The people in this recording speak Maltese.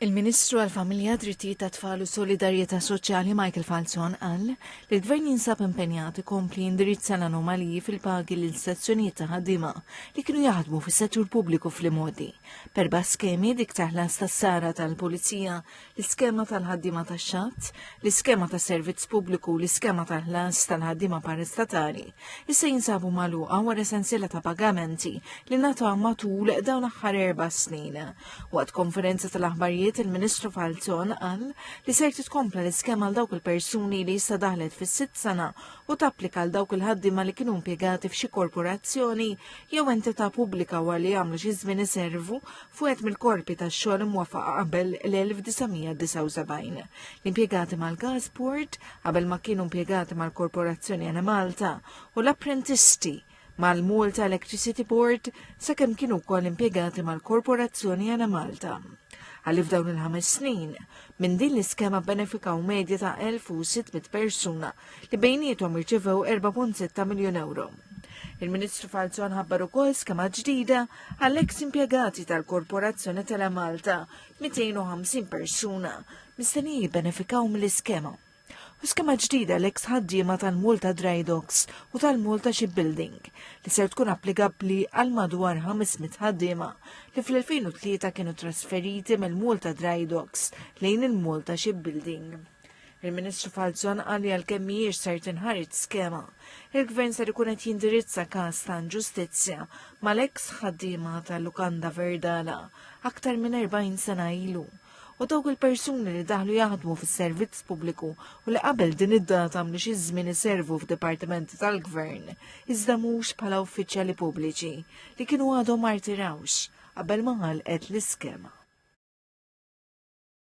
Il-Ministru għall-Familja, Drittijiet tat-Tfal u Solidarjetà Soċjali Michael Falzon qal li l-Gvern jinsab impenjat ikompli jindirizza l-anomaliji fil-pagi lil sezzjonijiet ta' ħaddiema li kienu jaħdmu fis-settur pubbliku fl-imgħoddi b'erba' skemi, dik ta' ħlas tas-sara tal-Pulizija, l-iskema tal-ħaddiema tax-xatt, l-iskema tas-servizz pubbliku u l-iskema tal-ħlas tal-ħaddiema parastatali. issa jinsabu magħluqa wara sensiela ta' pagamenti li nata matul dawn l-aħħar erba' snin. Waqt konferenza tal-aħbarijiet il-Ministru Falzon qal li ser titkompla l-iskema għal dawk il-persuni li issa daħlet fis-sitt sena u tapplika għal dawk il-ħaddiema li kienu impjegati f'xi korporazzjoni jew entità pubblika wara li jagħmlu xi żmien iservu fuqet mill-korpi tax-xogħol imwafaqa qabel l-1979. L-impjegati mal-Gasport qabel ma kienu impjegati mal-Korporazzjoni Enemalta u l-apprentisti mal-Malta Electricity Board sakemm kienu wkoll impjegati mal-Korporazzjoni Ena Malta. Għalli f'dawn il-ħames snin, minn din l-iskema benefikaw medja ta' 1600 persuna li bejnietom irċevew 4.6 miljun euro. Il-Ministru Falzon ħabbar ukoll skema ġdida għall-eks impjegati tal-Korporazzjoni Tele Malta 250 persuna mistenni jibbenefikaw mill-iskema. U skema ġdida l-eks ħaddiema tal-Malta Dry Docks u tal-Malta Shipbuilding li ser tkun applikabbli għal madwar 500 ħaddiema li fl-2003 kienu trasferiti mill-Malta Dry Docks lejn il-Malta Shipbuilding. Il-Ministru Falzon qal li għalkemm mhijiex ser tinħarid skema, il-Gvern ser ikun qed jindirizza każ ta' inġustizzja mal-eks ħaddiema tal-Lukanda Verdala aktar minn 40 sena ilu u dawk il-persuni li daħlu jaħdmu fis-servizz pubbliku u li qabel din id-data għamlu xi żmien iservu f'dipartimenti tal-gvern, iżda mhux bħala uffiċjali pubbliċi li kienu għadhom martirawx qabel ma ħalqet l-iskema.